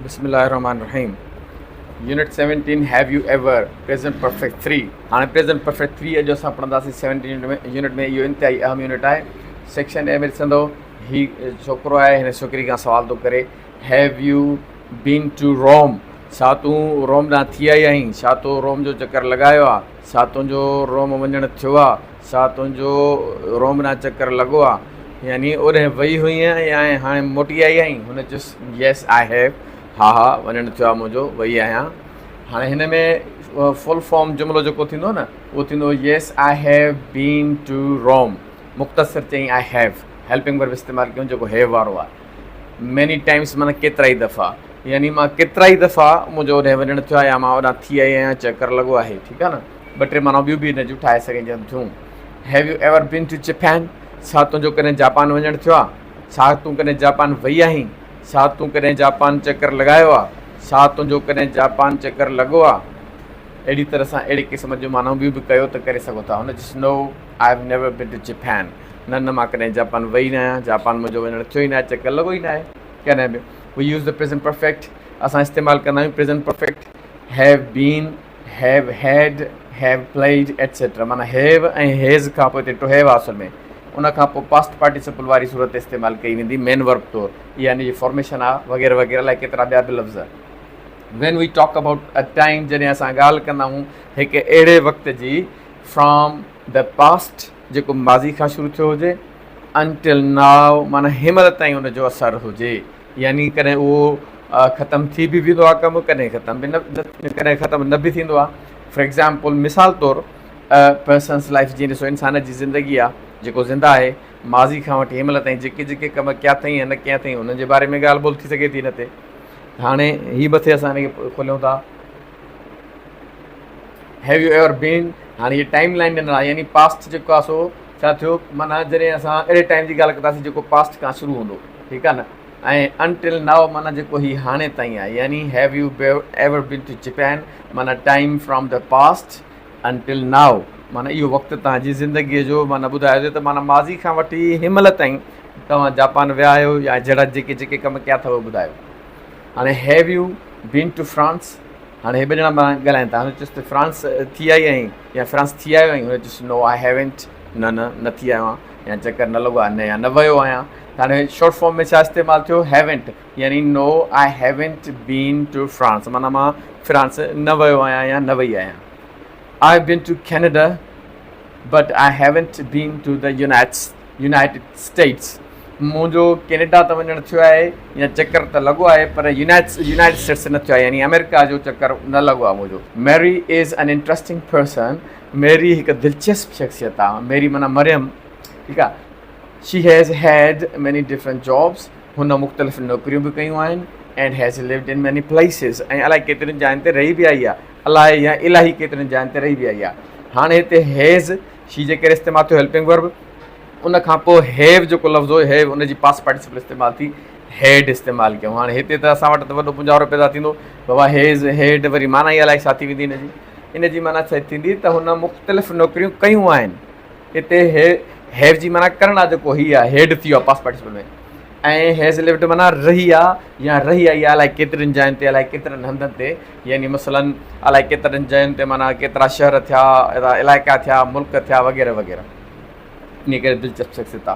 بسم الله الرحمٰن الرحيم unit seventeen have you ever present perfect three هاڻي پريزنٽ پرفيڪٽ ٿري اڄ اسان پڙهنداسين سيونٽين يونٽ ۾ يونٽ ۾ اهو انتهائي اهم يونٽ آهي سيڪشن اي ۾ ڏسندو هي ڇوڪرو آهي هن ڇوڪري کان سوال ٿو ڪري have you been to Rome ڇا تون روم ڏانهن ٿي آئي آهين ڇا تو روم جو چڪر لڳايو آهي سا تنهنجو روم وڃڻ ٿيو آ، سا تنهنجو روم ڏانهن چڪر لڳو آ، يعني اوڏهين وئي هئينء ۽ هاڻي موٽي آئي آهين؟ هن چيس، Yes I have، ها ها وڃڻ ٿيو آ منهنجو، وئي آهيان. هاڻي هن ۾ فل فارم جملو جيڪو ٿيندو نه اهو ٿيندو Yes I have been to Rome، مختصر چئي I have، هيلپنگ ورب استعمال ڪيون جيڪو have وارو آ. Many times معنيٰ ڪيترائي دفعا يعني مان ڪيترائي دفعا منهنجو هوڏانهن وڃڻ ٿيو آهي يا مان هوڏانهن ٿي آئي آهيان چڪر لڳو آهي ٺيڪ آهي نه ٻه ٽي معنيٰ ٻيون به هن جون ٺاهي سگهجن ٿيون have you ever been to Japan ڇا تنهنجو ڪڏهن جاپان وڃڻ ٿيو آهي ڇا تون ڪڏهن جاپان وئي آهين ڇا تون ڪڏهن جاپان چڪر لڳايو آهي ڇا تنهنجو ڪڏهن جاپان چڪر لڳو آهي اهڙي طرح سان اهڙي قسم جون معنائون ٻيون به ڪيو ته ڪري سگهو ٿا هن just no I have never been to Japan نه نه مان ڪڏهن جاپان وئي نه آهيان جاپان منهنجو وڃڻ ٿيو ئي ناهي چڪر لڳو ئي ناهي ڪڏهن به we use the present perfect اسان استعمال ڪندا آهيون present perfect have been have had have played etcetera معنيٰ هيو ۽ هيز کان پوء ٽو هيو آسل ۾ ان کان پوء پاسٽ پارٽيسپل واري صورت استعمال ڪئي ويندي مين ورب طور اها ان جي فارميشن آ وغيره وغيره لاء ڪيترا ٻيا به لفظ when we talk about a time جڏهن اسان ڳالهه ڪندا آهيون هڪ اهڙي وقت جي فرام د پاسٽ جيڪو ماضي کان شروع ٿيو هجي Until now معنيٰ هينمهل تائين ان جو اثر هجي يعني ڪڏهن اهو ختم ٿي به ويندو آهي ڪم ڪڏهن ختم به نه ڪڏهن ختم نه به ٿيندو آهي For example مثال طور A person's life جيئن ڏسو انسان جي زندگي آهي جيڪو زنده آهي ماضي کان وٺي هينمهل تائين جيڪي جيڪي ڪم ڪيا اٿئي يا نه ڪيا اٿئي انهن جي باري ۾ ڳالهه ٻولهه ٿي سگهي ٿي هن تي هاڻي هي مٿي اسان هن کي کوليون ٿا هيو يو ايور بين هاڻي هي ٽائيم لائن ڏنل آهي يعني پاسٽ جيڪو آهي سو ڇا ٿيو معنيٰ جڏهن اسان اهڙي ٽائيم جي ڳالهه ڪنداسين جيڪو پاسٽ کان شروع هوندو ٺيڪ آهي نه ۽ انٽل ناو معنيٰ جيڪو هي هاڻي تائين آهي يعني have you ever been to Japan معنيٰ time from the past until now معنيٰ اهو وقت توهان جي زندگيء جو معنيٰ ٻڌايو ٿي ته معنيٰ ماضي کان وٺي هن مهل تائين توهان جاپان ويا آهيو يا جهڙا جيڪي جيڪي ڪم ڪيا اٿو ٻڌايو هاڻي have you been to France? هاڻي هي ٻه ڄڻا پاڻ ڳالهائين ٿا. هن چيس ته فرانس ٿي آئي آهين يا فرانس ٿي آيو آهين؟ هن چيس نو آء هيونٽ نه نه نه ٿي آيو آهيان يا چڪر نه لڳو آهي نه يا نه ويو آهيان ته هاڻي شارٽ فارم ۾ ڇا استعمال ٿيو هيونٽ يعني no I haven't been to France معنيٰ مان فرانس نه ويو آهيان يا نه وئي آهيان I have been to Canada but I haven't been to the united United States منهنجو ڪينيڊا ته وڃڻ ٿيو آهي يا چڪر ته لڳو آهي پر يونائيٽڊ اسٽيٽس نه ٿيو آهي يعني آمريڪا جو چڪر نه لڳو آهي منهنجو Mary is an interesting person Mary هڪ دلچسپ شخصيت آهي ميري معنيٰ مريم ٺيڪ آهي she has had many different jobs هن مختلف نوڪريون به ڪيون آهن and has lived in many places ۽ الائي ڪيترين جاين تي رهي به آئي آهي الائي يا الاهي ڪيترين جاين تي رهي به آئي آهي هاڻي هتي هيز شي جي ڪري استعمال ٿيو هيلپنگ ورب. ان کان پوء هيو جيڪو لفظ هو هيو ان جي پاسٽ پارٽيسپل استعمال ٿي هيڊ استعمال ڪيون. هاڻي هتي ته اسان وٽ ته وڏو پونجارو پيدا ٿيندو بابا هيز هيڊ وري معنيٰ ئي الائي ڇا ٿي ويندي ان جي. ان جي معنيٰ ڇا ٿيندي ته هن مختلف نوڪريون ڪيون آهن. هتي هيو جي معنيٰ ڪرڻ آ جيڪو هي آ هيڊ ٿي ويو آ پاسٽ پارٽيسپل ۾. ۽ هيز لفٽ معنيٰ رهي آ يا رهي آئي آ الائي ڪيترين جاين تي الائي ڪيترن هنڌن تي يعني مثلاً الائي ڪيترن جاين تي معنيٰ ڪيترا شهر ٿيا ايترا علائقا ٿيا ملڪ ٿيا وغيره وغيره انهي ڪري دلچسپ شخصيت آ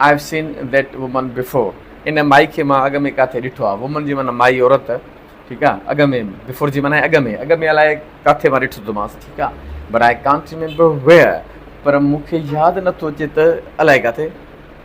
I have seen that woman before ان مائي کي مان اڳ ۾ ڪاٿي ڏٺو آ وومن جي معنيٰ مائي عورت ٺيڪ آ اڳ ۾ بفور جي معنيٰ اڳ ۾ اڳ ۾ الائي ڪاٿي مان ڏٺو ٿو مانس ٺيڪ آ but I can't remember where پر مون کي ياد نٿو اچي ته الائي ڪاٿي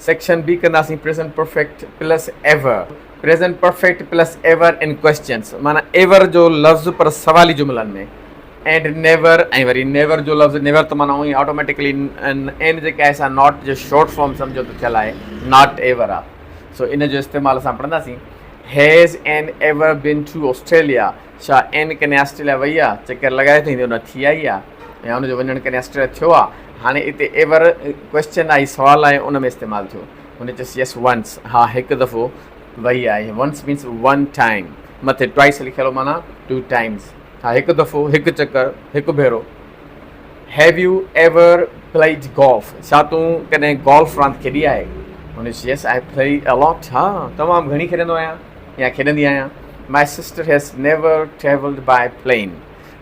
سيڪشن بي ڪنداسين present perfect plus ever present perfect plus ever in questions معنيٰ ايور جو لفظ پر سوالي جملن ۾ اينڊ نيور ۽ وري نيور جو لفظ نيور ته معنيٰ اونهي آٽوميٽڪلي اين جيڪا آهي سا ناٽ جو شارٽ فارم سمجهو ته ٿيل آهي ناٽ ايور آهي سو ان جو استعمال اسان پڙهنداسين has and ever been to Australia ڇا اين ڪنھن آسٽريليا وئي آ چڪر لڳائي تائين جو نه ٿي آئي آ يا ان جو وڃڻ ڪنھن آسٽريليا ٿيو آ ھاڻي اتي ايور ڪوئسچن آھي سوال آھي ان ۾ استعمال ٿيو ھن چيس يس ونس ھا ھڪ دفعو وئي آھي ونس مينس ون ٽائيم مٿي ٽوائيس لکيل ھو معنيٰ ٽو ٽائيمس ھا ھڪ دفعو ھڪ چڪر ھڪ ڀيرو have you ever played golf ڇا تون ڪڏھن گولف راند کيڏي آھي ھن چيس يس آئي پلئي الاٽ ھا تمام گھڻي کيڏندو آھيان يا کيڏندي آهيان. My sister has never travelled by plane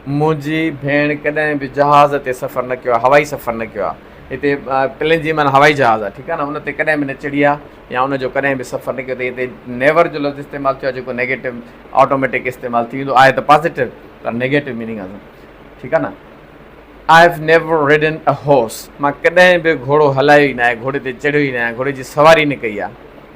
منهنجي ڀيڻ ڪڏهن به جهاز تي سفر نه ڪيو آهي هوائي سفر نه ڪيو آهي هتي پلين جي معنيٰ هوائي جهاز آهي ٺيڪ آهي نه ان تي ڪڏهن به نه چڙهي آهي يا ان جو ڪڏهن به سفر نه ڪيو اٿئي هتي نيور جو لفظ استعمال ٿيو آهي جيڪو نيگيٽو آٽوميٽڪ استعمال ٿي ويندو آهي ته پازيٽو پر نيگيٽو ميننگ آهي ٺيڪ آهي نه آء هيو نيور ريڊن اي هارس مان ڪڏهن به گهوڙو هلايو ئي نه آهي گهوڙي تي چڙهيو ئي نه آهي گهوڙي جي سواري نه ڪئي آهي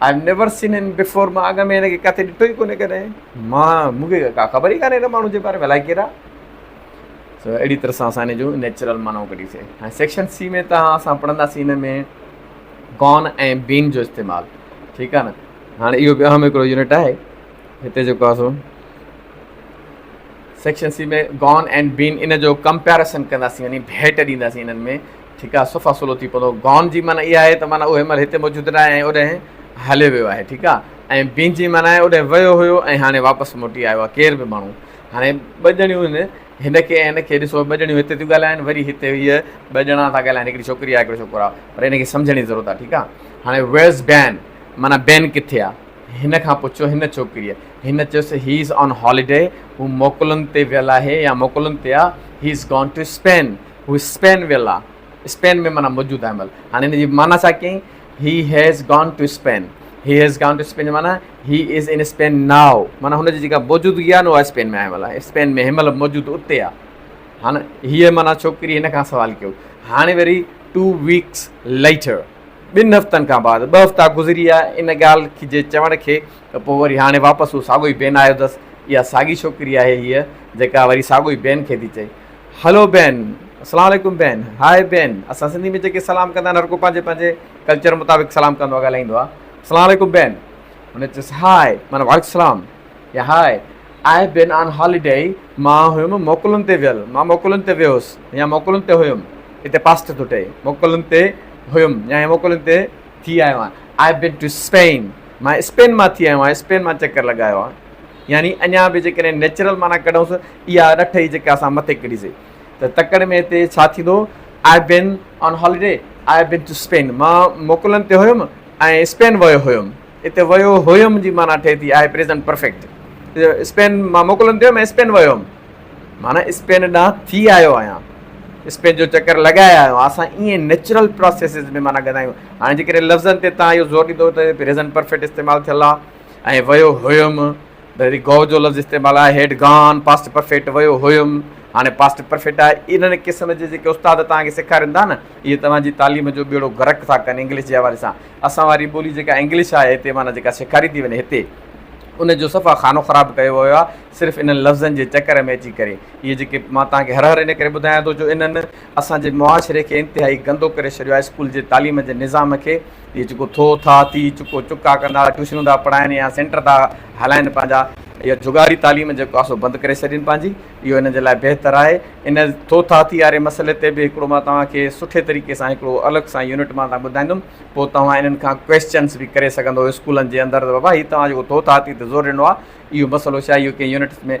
آء هيو نيور سين هيم بيفور مان اڳ ۾ هن کي ڪٿي ڏٺو ئي ڪونهي ڪڏهن مان مون کي ڪا خبر ئي ڪانهي هن ماڻهو جي باري ۾ الائي ڪير آهي سو اهڙي طرح سان اسان هن جون نيچرل معنائون ڪڍيسين هاڻي سيڪشن سي ۾ تان اسان پڙهنداسين هن ۾ گون ۽ بين جو استعمال ٺيڪ آهي نه هاڻي اهو به اهم هڪڙو يونٽ آهي هتي جيڪو آهي سو سيڪشن سي ۾ گون ۽ بين ان جو ڪمپيريسن ڪنداسين يعني ڀيٽ ڏينداسين هنن ۾ ٺيڪ آ صفا سولو ٿي پتو Gone جي معنيٰ اها آهي ته معنيٰ اهو هن مهل هتي موجود ناهي ۽ اوڏهين هليو ويو آهي ٺيڪ آ ۽ Been جي معنيٰ آهي اوڏهين ويو هيو ۽ هاڻي واپس موٽي آيو آهي ڪير به ماڻهو هاڻي ٻه ڄڻيون هن هن کي ۽ هن کي ڏسو ٻه ڄڻيون هتي ٿيون ڳالهائين وري هتي هيء ٻه ڄڻا ٿا ڳالهائين هڪڙي ڇوڪري آهي هڪڙو ڇوڪرو آهي پر ان کي سمجهڻ جي ضرورت آهي ٺيڪ آ هاڻي Where's Been معنيٰ بين ڪٿي آ هن کان پڇيو هن ڇوڪريء هن چيس He is on holiday هو موڪلن تي ويل آهي يا موڪلن تي آ He is gone to Spain هو اسپين ويل آ. اسپين ۾ معنيٰ موجود آهي مل. هاڻي ان جي معنيٰ ڇا ڪيائين He has gone to Spain. He has gone to Spain جو معنيٰ He is in Spain now. معنيٰ هن جي جيڪا موجودگي آهي نه اها اسپين ۾ آهي مل. اسپين ۾ هي مل موجود اتي آ. هاڻ هيء معنيٰ ڇوڪري هن کان سوال ڪيو. هاڻي وري Two weeks later. ٻن هفتن کان بعد. ٻه هفتا گذري ويا ان ڳالهه کي جي چوڻ کي ته پوء وري هاڻي واپس هو ساڳيو ئي بين آيو اٿس. اها ساڳي ڇوڪري آهي هيء جيڪا وري ساڳيو ئي بين کي ٿي چئي. هلو بين، اسلام عليڪم بين، هاء بين، اسان سنڌي ۾ جيڪي سلام ڪندا آهن هر ڪو پنهنجي پنهنجي ڪلچر مطابق سلام ڪندو آهي ڳالهائيندو آهي اسلام عليڪم بين هن چيس هاء معنيٰ وعليڪم السلام يا high I have been on holiday مان هيم موڪلن تي ويل مان موڪلن تي ويوس يا موڪلن تي هيم هتي پاسٽ ٿو ٺهي موڪلن تي هيم يا هي موڪلن تي ٿي آيو آهيان آئي بين ٽو اسپين مان اسپين مان ٿي آيو آهيان اسپين مان چڪر لڳايو آهيان يعني اڃا به جيڪڏهن نيچرل معنيٰ ڪڍون سو اها ڏٺ ئي جيڪا اسان مٿي ڪڍي سي ته تڪڙ ۾ هتي ڇا ٿيندو I been on holiday I been to Spain مان موڪلن تي هيم ۽ اسپين ويو هيم هتي ويو هيم جي معنيٰ ٺهي ٿي آء پريزنٽ پرفيڪٽ اسپين مان موڪلن تي هيم ۽ اسپين ويو هيم معنيٰ اسپين ڏانهن ٿي آيو آهيان اسپين جو چڪر لڳائي آيو آهيان اسان ائين نيچرل پروسيسز ۾ معنيٰ ڳندا آهيون هاڻي جيڪڏهن لفظن تي تان اهو زور ڏيندو ته پريزنٽ پرفيڪٽ استعمال ٿيل آهي ۽ ويو هيم هي گو جو لفظ استعمال آهي هيڊ گان پاسٽ پرفيڪٽ ويو هيم هاڻي پاسٽ پرفيڪٽ آهي انهن قسم جي جيڪي استاد توهان کي سيکارين ٿا نه اهي توهان جي تعليم جو ٻيڙو غرق ٿا ڪن انگلش جي حوالي سان اسان واري ٻولي جيڪا انگلش آهي هتي معنيٰ جيڪا سيکاري ٿي وڃي هتي ان جو صفا خانو خراب ڪيو ويو آهي صرف انهن لفظن جي چڪر ۾ اچي ڪري اهي جيڪي مان توهان کي هر هر ان ڪري ٻڌايان ٿو جو انهن اسان جي معاشري کي انتهائي گندو ڪري ڇڏيو آهي اسڪول جي تعليم جي نظام کي اهي جيڪو ٿو ٿا ٿي چڪو چڪا ڪندا ٽيوشنون ٿا پڙهائن يا سينٽر ٿا هلائن پنهنجا اهي جگاري تعليم جيڪو آهي سو بند ڪري ڇڏين پنهنجي اهو هن جي لاء بهتر آهي ان ٿو ٿا ٿي واري مسئلي تي به هڪڙو مان توهان کي سٺي طريقي سان هڪڙو الڳ سان يونٽ مان توهان ٻڌائيندم پوء توهان انهن کان ڪويسچنس به ڪري سگهندو اسڪولن جي اندر ته بابا هي توهان جيڪو ٿو ٿا ٿي تي زور ڏنو آهي اهو مسئلو ڇا اهو ڪنهن يونٽس ۾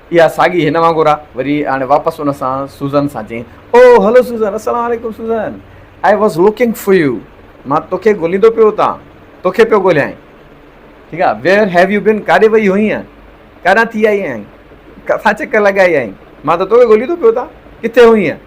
اها ساڳي هن وانگر آ. وري هاڻي واپس ان سان سوزن سان چيائين، او هلو سوزن، السلام عليڪم Susan, I was looking for you, مان توکي ڳوليندو پيو اتان توکي پيو ڳوليائين. ٺيڪ آ، ويئر هيو يو بين، ڪاڏي وئي هئينء، ڪاڏانهن ٿي آئي آهين، ڪٿان چڪر لڳائي آهين، مان ته توکي ڳوليندو پيو اتان ڪٿي هئينء.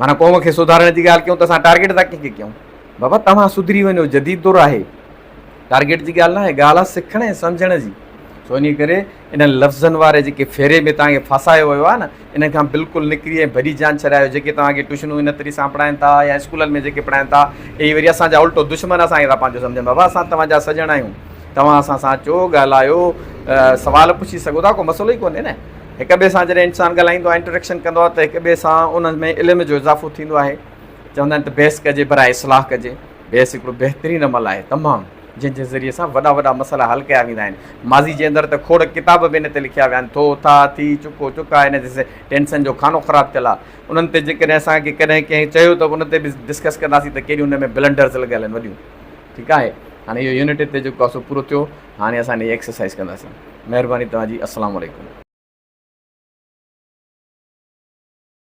معنيٰ قوم کي سڌارڻ جي ڳالهه ڪيون ته اسان ٽارگيٽ ٿا ڪنهن کي ڪيون؟ بابا توهان سڌري وڃو جديد دور آهي. ٽارگيٽ جي ڳالهه ناهي ڳالهه آهي سکڻ ۽ سمجهڻ جي. سو انهيء ڪري انهن لفظن واري جيڪي ڦيري ۾ توهان کي ڦاسايو ويو آهي نه انهن کان بلڪل نڪري ۽ ڀڄي جان ڇڏايو جيڪي توهان کي ٽيوشنون ان طريقي سان پڙهائين ٿا يا اسڪولن ۾ جيڪي پڙهائين ٿا اهي وري اسان جا الٽو دشمن اسان کي ٿا پنهنجو سمجهن بابا اسان توهان جا سڄڻ آهيون توهان اسان سان اچو ڳالهايو سوال پڇي سگهو ٿا ڪو مسئلو ئي ڪونهي نه. هڪ ٻئي سان جڏهن انسان ڳالهائيندو آهي انٽريڪشن ڪندو آهي ته هڪ ٻئي سان ان ۾ علم جو اضافو ٿيندو آهي چوندا آهن ته بحث ڪجي برائي اصلاح ڪجي بحث هڪڙو بهترين عمل آهي تمام جنهن جي ذريعي سان وڏا وڏا مسئلا حل ڪيا ويندا آهن ماضي جي اندر ته کوڙ ڪتاب به ان تي لکيا ويا آهن ٿو ٿا ٿي چڪو چڪا ان تي ٽينشن جو خانو خراب ٿيل آهي انهن تي جيڪڏهن اسان کي ڪڏهن ڪنهن چيو ته ان تي به ڊسڪس ڪنداسين ته ڪهڙيون ان ۾ بلنڊرز لڳل آهن وڏيون ٺيڪ آهي هاڻي اهو يونٽ هتي جيڪو آهي سو پورو ٿيو هاڻي اسان نئين ايڪسرسائيز ڪنداسين مهرباني توهان جي السلام عليڪم.